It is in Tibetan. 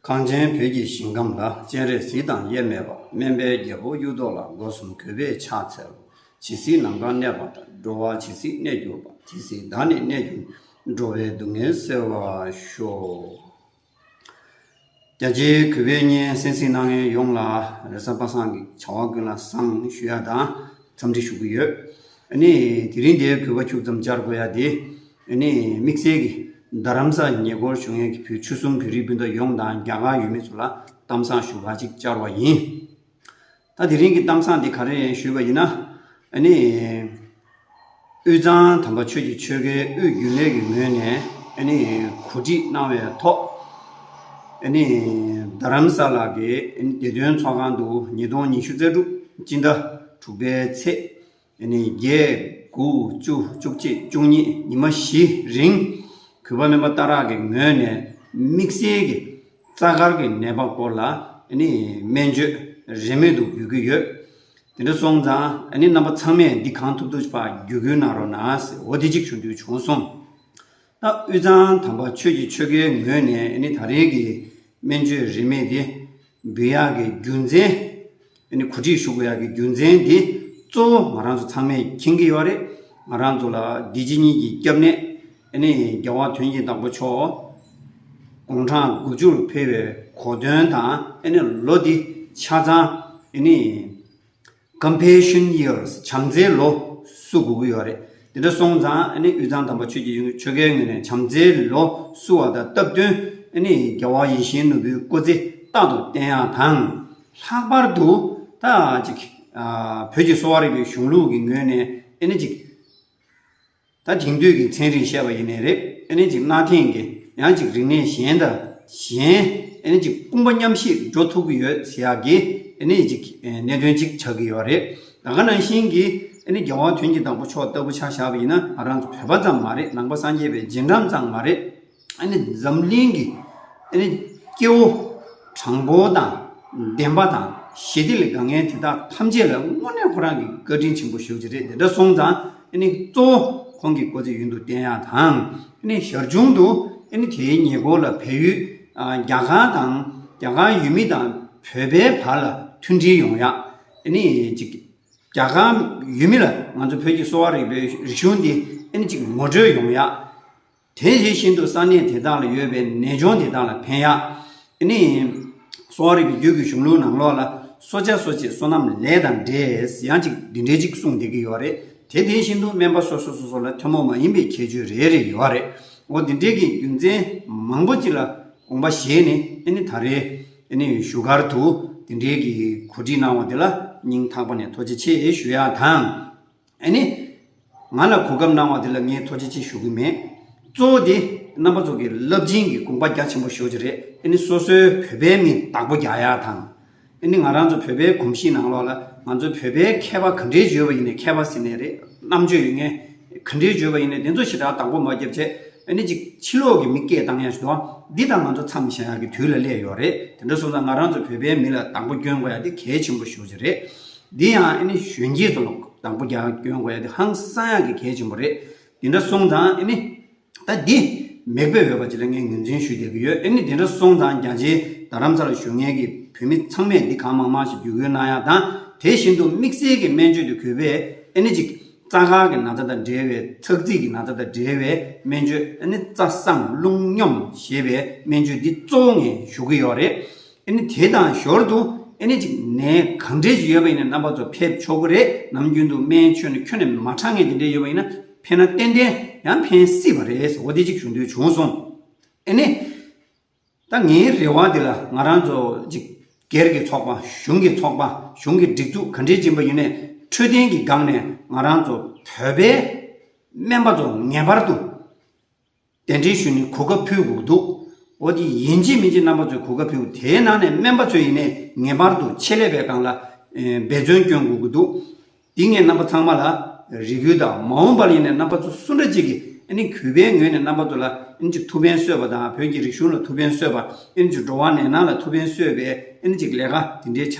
གངས་ཅན་བོད་ཀྱི་ཞིང་ཁམས་ལ་སྤྱན་རས་གཟིགས་དང་དབྱེར་མེད་པ་སྨན་པའི་རྒྱལ་པོ་གཡུ་ཐོག་ལ་སྒོ་གསུམ་གུས་པས་ཕྱག་འཚལ། ཇི་སྲིད་ནམ་མཁའ་གནས་པ་དང་འགྲོ་བ་ཇི་སྲིད་གནས་གྱུར་པ་དེ་སྲིད་བདག་ནི་གནས་གྱུར། འགྲོ་བའི་སྡུག་བསྔལ་སེལ་བར་ཤོག། རྒྱ་ཆེའི་གུས་པས་སྙན་སེང་སིང་སྣ་ངན་ཡོངས་ལ་རེ་ས་པ་སངས་ཀྱི་བྱ་བ་ཀུན་ལ་བསང་ཞུ་ཡ་དང་འཚམས་འདྲི་ཞུ་གི་ཡོད། ཨ་ནི་དེ་རིང་འདིའི་གུས་པ་ཁྱུག་ཙམ་སྦྱར་དགོས་ཡ་དེ། འོན་ནི་དམིགས་བསལ་གྱིས་རྡ་རམ་ས་ལའི་ཉེ་འཁོར་བྱུང་ཡོད་ཀྱི་བོད་ཆོལ་གསུམ་བོད་རིགས་སྤུན་ཟླ་ཡོངས་དང་རྒྱ་གར་ཡུལ་མི་ཚོ་ལ་གཏམ་བཟང་ཞུ་ག་ཅིག་བཅར་བ་ཡིན། ད་དེ་རིང་གི་གཏམ་བཟང་དེ་ག་རེ་ཞུས་པ་ཡིན་ན། འོན་ནི། དབུས་གཙང་དམ་པ་ཆོས་ཀྱི་ཆོལ་ཁའི་དབུས་རྒྱུན་ལས་ཀྱི་ངོས་ནས་འོན་ནི་གོ་སྒྲིག་གནང་བའི་ཐོག་འོན་ནི་རྡ་རམ་ས་ལ་གྱི་འོན་ནི་བདེ་དོན་ཚོགས་ཁང་དུ་ཉིས་སྟོང་ཉི་ཤུ་རྩ་དྲུག་སྤྱི་ཟླ་དྲུག་པའི་ཚེས་ནས་བརྒྱད། དགུ། བཅུ། བཅུ་གཅིག། བཅུ་གཉིས། ཉི་མ་བཞི། རིང། གུས་པ་སྨན་པ་རྟ་རག་གི་ངོས་ནས་དམིགས་བསལ་གྱི་རྩ་དཀར་གྱི་ནད་པ་སྐོར་ལ་སྨན་བཅོས་རིན་མེད་དུ་འབུལ་གྱི་ཡོད། དེ་འདྲ་སོང་ཙང་རྣམ་པ་ཚང་མས་འདི་གང་ཐུབ་ཐུབ་བརྒྱུད་སྐུལ་གནང་རོགས་གནང། འོ་དེ་གཅིག་བྱུང་དུས་བྱུང་སོང། ལྷ་དབུས་གཙང་དམ་པ་ཆོས་ཀྱི་ཆོལ་ཁའི་ངོས་ནས་ནི་ད་རེས་ཀྱི་སྨན་བཅོས་རིན་མེད་དེ་འབུལ་ཡག་གི་རྒྱུ་མཚན། ནི་གོ་སྒྲིག་ཞུ་དགོས་ཡག་གི་རྒྱུ་མཚན་དེ་གཙོ་བོ་ང་རང་ཚོ་ཚང་མས་མཁྱེན་གྱི་ཡོད་རེད། ང་རང་ཚོ་ལ་བདེ་སྐྱིད་གཉིས་ཀྱི་སྐྱབས་གནས། ནི་རྒྱལ་བ་དོན་གྱི་བདག་པོ་མཆོག་དགུང་གྲངས་དགུ་བཅུར་འཕེལ་བའི་གོ་དོན་དང་ནི་ལོ་འདི་ཆ་ཚང། ནི། Compassion years བྱམས་བརྩེའི་ལོ་བསུ་དགོས་ཀྱི་ཡོད་རེད། དེ་འདྲ་སོང་ཙང་ཨཱ་ནི་དབུས་གཙང་དམ་པ་ཆོས་ཀྱི་དབྱིངས་ཆོལ་ཁའི་ངོས་ནས་བྱམས་བརྩེའི་ལོ་བསུ་བ་དང་སྟབས་བསྟུན་ཨཱ་ནི་རྒྱལ་བ་ཡིད་བཞིན་ནོར་བུའི་སྐུ་ཚེ་རྟག་ཏུ་བརྟན་ཡག་དང། ལྷག་པར་དུ་ད་ཅིག་བོད་ཀྱི་གསོ་བ་རིག་པའི་གཞུང་ལུགས་ཀྱི་ངོས་ནས་ཨཱ་ནི་ཅིག། ད་དེང་དུས་ཀྱི་མཚན་རིགས་བཤད་པ་ཡིན་ནི་རེད་ཨེ་ནི་ཅིག་གནའ་དེང་གི་ཡང་ཅིག་རིག་གནས་གཞན་དང་གཞན་ཨེ་ནི་ཅིག་དཔུང་པ་མཉམ་ཤེས་འགྲོ་ཐུབ་ཀྱི་ཡོད་ཟེར་ཡག་གི་ཨེ་ནི་ཅིག་གནད་དོན་ཅིག་ཆགས་ཀྱི་ཡོད་རེད་ད་ག་ནང་བཞིན་གྱི་ཨེ་ནི་རྒྱལ་བ་དོན་གྱི་བདག་པོ་མཆོག་ལྟ་བུ་ཆགས་བཞག་པ་ཡིན་ན་ང་རང་བོད་པ་ཙམ་མ་རེད་ནང་པ་སངས་རྒྱས་པའི་རྗེས་འབྲང་ཙང་མ་རེད། འཛམ་གླིང་གི་སྐྱེ་བོ་དྲང་པོ་དང་བདེན་པ་དང་ཞི་བདེ་ལས་དགའ་ངན་དེ་དག་ཐམས་ཅད་ལ་དངོས་གནས་ཁོ་རང་གིས་བཀའ་དྲིན་ཆེན་པོ་ཞུ་རྒྱུ་རེད་དེ་འདྲ་སོང་ཙང་གཙོ་བོ་ཁོང་གི་ཀོ་ཙེ་ཡུན་དུ་བརྟན་ཡག་དང། ཞར་བྱུང་དུ་དེའི་ཉེ་འཁོར་ལ་བལ་ཡུལ་རྒྱ་གར་དང་རྒྱ་གར་ཡུལ་མི་དང་བོད་པའི་བར་ལ་མཐུན་སྒྲིལ་ཡོང་ཡག་ཅིག་རྒྱ་གར་ཡུལ་མི་ལ་ང་ཚོ་བོད་ཀྱི་གསོ་བ་རིག་པའི་རིག་གཞུང་འདི་ངོ་སྤྲོད་ཡོང་ཡག། དེ་དེ་བཞིན་དུ་ས་གནས་དེ་དག་ལ་ཡོད་པའི་ནད་གཅོང་དེ་དག་ལ་ཕན་ཡག་ནི། གསོ་བ་རིག་གི་རྒྱུད་ཀྱི་གཞུང་ལུགས་ནང་ལོགས་ལ་གསོ་བྱ་གསོ་བྱེད་བསོད་ནམས་ལས་དང་འབྲས་ཡང་ཅིག་འདི་འདྲས་ཅིག་གསུངས་བསྡད་ཀྱི་ཡོད་རེད་དེ་དེ་བཞིན་དུ་སྨན་པ་སོ་སོ་སོ་སོ་ལ་ཐུན་མོང་མ་ཡིན་པའི་ཁྱད་ཆོས་རེ་རེ་ཡོད་རེད་འོ་འདི་འདྲས་ཀྱི་རྒྱུ་མཚན་མང་པོ་ཅིག་ལ་དགོངས་པ་བཞེས་ནས་ནི་ད་རེས་ནི་བཞུགས་སྒར་དུ་འདི་འདྲས་ཀྱི་གོ་སྒྲིག་གནང་བ་དེ་ལ་སྙིང་ཐག་པ་ནས་ཐུགས་རྗེ་ཆེ་ཞུ་ཡག་དང། ཨེ་ནི། ང་ལ་གོ་སྐབས་གནང་བ་འདི་ལ་ངས་ཐོ་ཅི་ཅི་ཞུ་གི་མེད། གཙོ་བོ་དེ། རྣམ་པ་ཚོ་གི་རླབས་ཆེན་གི་དགོངས་པ་རྒྱ་ཆེན་པོ་ཤོད་ཀྱི་རེད། ཨེ་ནི་སོ་སོའི་བོད་པའི་མིང་དག་པོ་རྒྱག་ཡ་དང། ཨེ་ནི་ང་རང་ཚོ་བོད་པའི་གོམས་གཤིས་ནང་ལོགས་ལ་ང་ཚོ་བོད་པའི་མཁས་པ་ག་འདྲའི་བརྗོད་པ་ཡིན་ནས་མཁས་པ་ཟེར་ནས་རེད་རྣམ་དཔྱོད་ཡོད་ངེས། ག་འདྲའི་བརྗོད་པ་ཡིན་ནས་དེ་ཚོ་ཞེ་དྲག་དང་པོ་མ་བརྒྱབ་རྗེས། ཨེ་ནི་ཅིག་ཕྱི་ལོགས་ཀྱི་མི་སྐད་བཏང་ཡ་ཞུ་དོ། འདི་དག་ང་ཚོ་མཚམས་བཞག་ཡ་གི་དུས་ལ་སླེབས་ཡོད་རེད་དེ་འདྲ་སོང་ཙང་ང་རང་ཚོ་བོད་པའི་མི་ལ་དང་པོ་སྐྱོན་གོ་ཡ་དེ་གལ་ཆེན་པོ་ཤོད་ཀྱི་རེད། འདི་ཡང་ཨེ་ནི་གཞོན་སྐྱེས་ཚོ་ལ་དང་པོ་རྒྱག་སྐྱོན་དགོས་ཡ་དེ་ཧང་སང་ཡག་གི་གལ་ཆེན་པོ་རེད་དེ་འདྲ་སོང་ཙང་ཨེ་ནི། ད་འདི་མེག་པས་འོས་པ་བྱེད་ལ་ངས་ངོས་འཛིན་ཞུ་བསྡད་ཀྱི་ཡོད་ཨེ་ནི་དེ་འདྲ་སོང་ཙང་རྒྱ་ཆེའི་རྡ་རམ་ས་ལ་བཞུགས་མཁན་གྱི་བོད་མི་ཚང་མས་འདི་གང་མང་མང་ཞིག་བརྒྱུད་སྐུལ་གནང་ཡག་དང་དེ་བཞིན་དུ་དམིགས་བསལ་གྱི་སྨན་བཅོས་དེ་གུས་པས་ཨེ་ནི་ཅིག་རྩ་ཁག་གི་ན་ཚ་དང་འབྲེལ་བའི་ཚགས་རྩིས་ཀྱི་ན་ཚ་དང་འབྲེལ་བའི་སྨན་བཅོས་ཨེ་ནི་རྩ་བཟང་རླུང་སྙོམས་ཞེས་པའི་སྨན་བཅོས་འདི་གཙོ་བོ་ངས་ཞུ་གི་ཡོད་རེད། ཨེ་ནི་དེ་དང་ཞོར་དུ་ཨེ་ནི་ཅིག་ནས་གང་འབྲེལ་ཅིག་ཡོད་པ་ཡིན་ན་རྣམ་པ་ཚོ་ཕེབས་ཆོག་གི་རེད་ནམ་རྒྱུན་དུ་སྨན་ཆོས་ནི་ཁྱོད་ནས་མ་དྲངས་ངས་དེ་འདྲས་ཡོད་པ་ཡིན་ན་ཕེབས་ན་ཏན་ཏན་ཡང་ཕན་སྲིད་པ་རེད་ཟེར་བ་དེ་ཅིག་ཞུ་འདོད་བྱུང་སོང། ཨེ་ནི། ད་ངའི་རེ་བ་འདི་ལ་ང་རང་ཚོ་ཅིག་སྒེར་གྱི་ཚོགས་པ་གཞུང་གི་ཚོགས་པ་གཞུང་གི་སྒྲིག་འཛུགས་ག་འདྲས་ཅན་པ་ཡིན་ནའི་འཕྲོད་བསྟེན་གྱི་སྒང་ནས་ང་རང་ཚོ་བོད་པའི་སྨན་པ་ཚོ་ངེས་པར་དུ་གདན་འདྲེན་ཞུ་ནས་གོ་སྐབས་ཕུལ་དགོས་འདུག་འོ་དེ་ཡིན་ཅི་མིན་ཅི་རྣམ་པ་ཚོས་གོ་སྐབས་ཕུལ་དེའི་ནང་ནས་སྨན་པ་ཚོས་ཡིན་ནས་ངེས་པར་དུ་ཆེད་ལས་པའི་སྒང་ལ་འབད་བརྩོན་བསྐྱོན་དགོས་ཀྱི་འདུག་འདི་ངས་རྣམ་པ་ཚང་མ་ལ་རེ་སྐུལ་དང་མ་འོངས་པར་ཡིན་ནས་རྣམ་པ་ཚོ་སུ་འདྲ་ཅིག་གིས་གུས་པའི་ངོས་ནས་རྣམ་པ་ཚོ་ལ་ཐུགས་ཕན་གསོས་པ་དང་བོད་ཀྱི་རིག་གཞུང་ལ་ཐུགས་ཕན་གསོས་པ་འགྲོ་བ་ནས་ནང་ལ་ཐུགས་ཕན་གསོས་པའི་ལས་ཀ་དེ་འདྲའི་ཆ